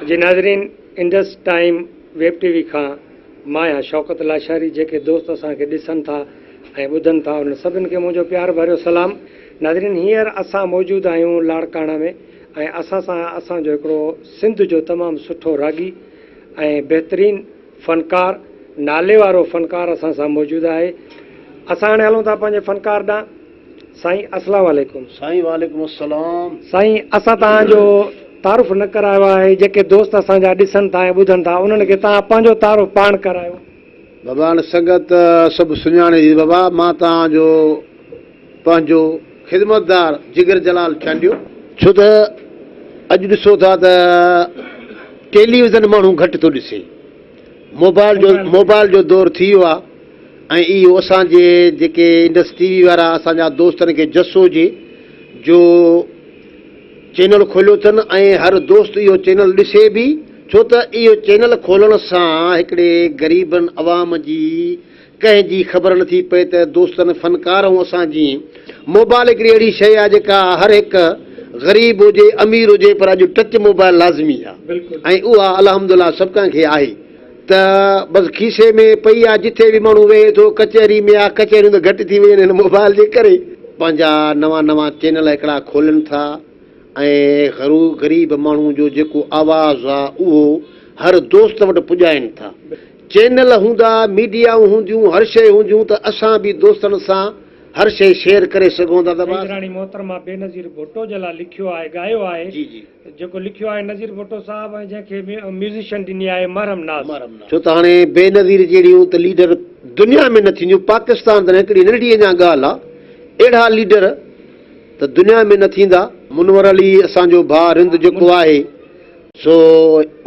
جي ناظرين Indus Time web T V کان مان آهيان شوڪت لاشاري جيڪي دوست اسان کي ڏسن ٿا ۽ ٻڌن ٿا انهن سڀن کي منهنجو پيار ڀريو سلام ناظرين هينئر اسان موجود آهيون لاڙڪاڻا ۾ ۽ اسان سان اسان جو هڪڙو سنڌ جو تمام سٺو راڳي ۽ بهترين فنڪار ناليوارو فنڪار اسان سان موجود آهي اسان هاڻي هلون ٿا پنهنجي فنڪار ڏانهن. سائين اسلام عليڪم. سائين وعليڪم السلام. سائين اسان تهان جو تعارف نه ڪرايو آهي جيڪي دوست اسان جا ڏسن ٿا ۽ ٻڌن ٿا انهن کي تهان پنهنجو تعارف پاڻ ڪرايو. بابا هاڻي سنگت سڀ سڃاڻي ٿي بابا مان تهان جو پنهنجو خدمتدار جگر جلال چانڊيو. ڇو ته اڄ ڏسو ٿا ته ٽيلي ويزن ماڻهو گهٽ ٿو ڏسي موبائل جو موبائل جو دور ٿي ويو آهي. ۽ اهو اسان جي جيڪي انڊس ٽي وي وارا اسان جا دوستن کي جس هجي جو چينل کوليو اٿن ۽ هر دوست اهو چينل ڏسي به ڇو ته اهو چينل کولڻ سان هڪڙي غريبن عوام جي ڪنهن جي خبر نه ٿي پئي ته دوستن فنڪار ۽ اسان جي موبائل هڪڙي اهڙي شئي آهي جيڪا هر هڪ غريب هجي امير هجي پر اڄ ٽچ موبائل لازمي آهي ۽ اها الحمدلله سڀ ڪنهن کي آهي. ته بس کيسي ۾ پئي آ جتي به ماڻهو ويهي ٿو ڪچهري ۾ آ ڪچهريون ته گهٽ ٿي ويون آهن هن موبائل جي ڪري. پنهنجا نوان نوان چينل هڪڙا کولن ٿا ۽ غرو غريب ماڻهو جو جيڪو آواز آ اهو هر دوست وٽ پڄائين ٿا چينل هوندا ميڊيائون هونديون هر شئي هونديون ته اسان به دوستن سان هر شئي شيئر ڪري سگهون ٿا ته بس. سائين راڻي محترمه بينظير ڀٽو جي لاء لکيو آهي ڳايو آهي. جي جي. جيڪو لکيو آهي نظير ڀٽو صاحب ۽ جنهن کي ميوزيشن ڏني آهي محرم ناز. ڇو ته هاڻي بينظير جهڙيون ته ليڊر دنيا ۾ نه ٿينديون پاڪستان ته نه هڪڙي ننڍڙي اڃا ڳالهه آ اهڙا ليڊر ته دنيا ۾ نه ٿيندا. منور علي اسان جو ڀاء رند جيڪو آهي سو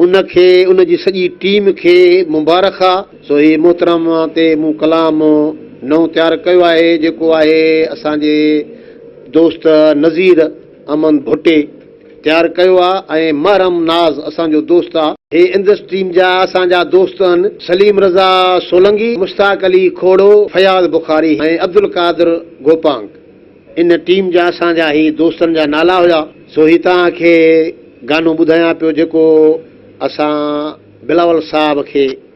ان کي ان جي سڄي ٽيم کي مبارخ آ. سو هي محترم تي مون ڪلام نئون تيار ڪيو آهي جيڪو آهي اسان جي دوست نظير. امن ڀٽي تيار ڪيو آ ۽ محرم ناز اسان جو دوست آ. هي اندس ٽيم جا اسان جا دوست هن سليم رضا سولنگي، مشتاق علي کوڙو، فياض بخاري ۽ عبدالقادر گوپانگ ان ٽيم جا اسان جا هي دوستن جا نالا هيا سو هي توهان کي گانو ٻڌايان پيو جيڪو اسان بلاول صاحب کي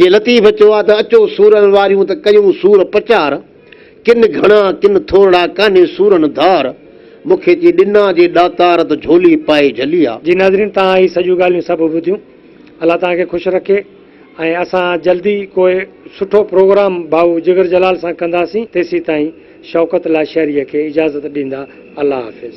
جي لطيف چيو آ ته اچو سورن واريون ته ڪيون سور پچار ڪن گهڻا ڪن ٿورڙا ڪانهي سورن ڌار مون کي چي ڏنا جي ڏاتار ته جهولي پائي جهلي آ. جي ناظرين توهان هي سڄيون ڳالهيون سڀ ٻڌيون الله توهان کي خوش رکي ۽ اسان جلدي ڪو سٺو پروگرام ڀائو جگر جلال سان ڪنداسين تيسين تائين شوڪت لاشاريء کي اجازت ڏيندا الله حافظ.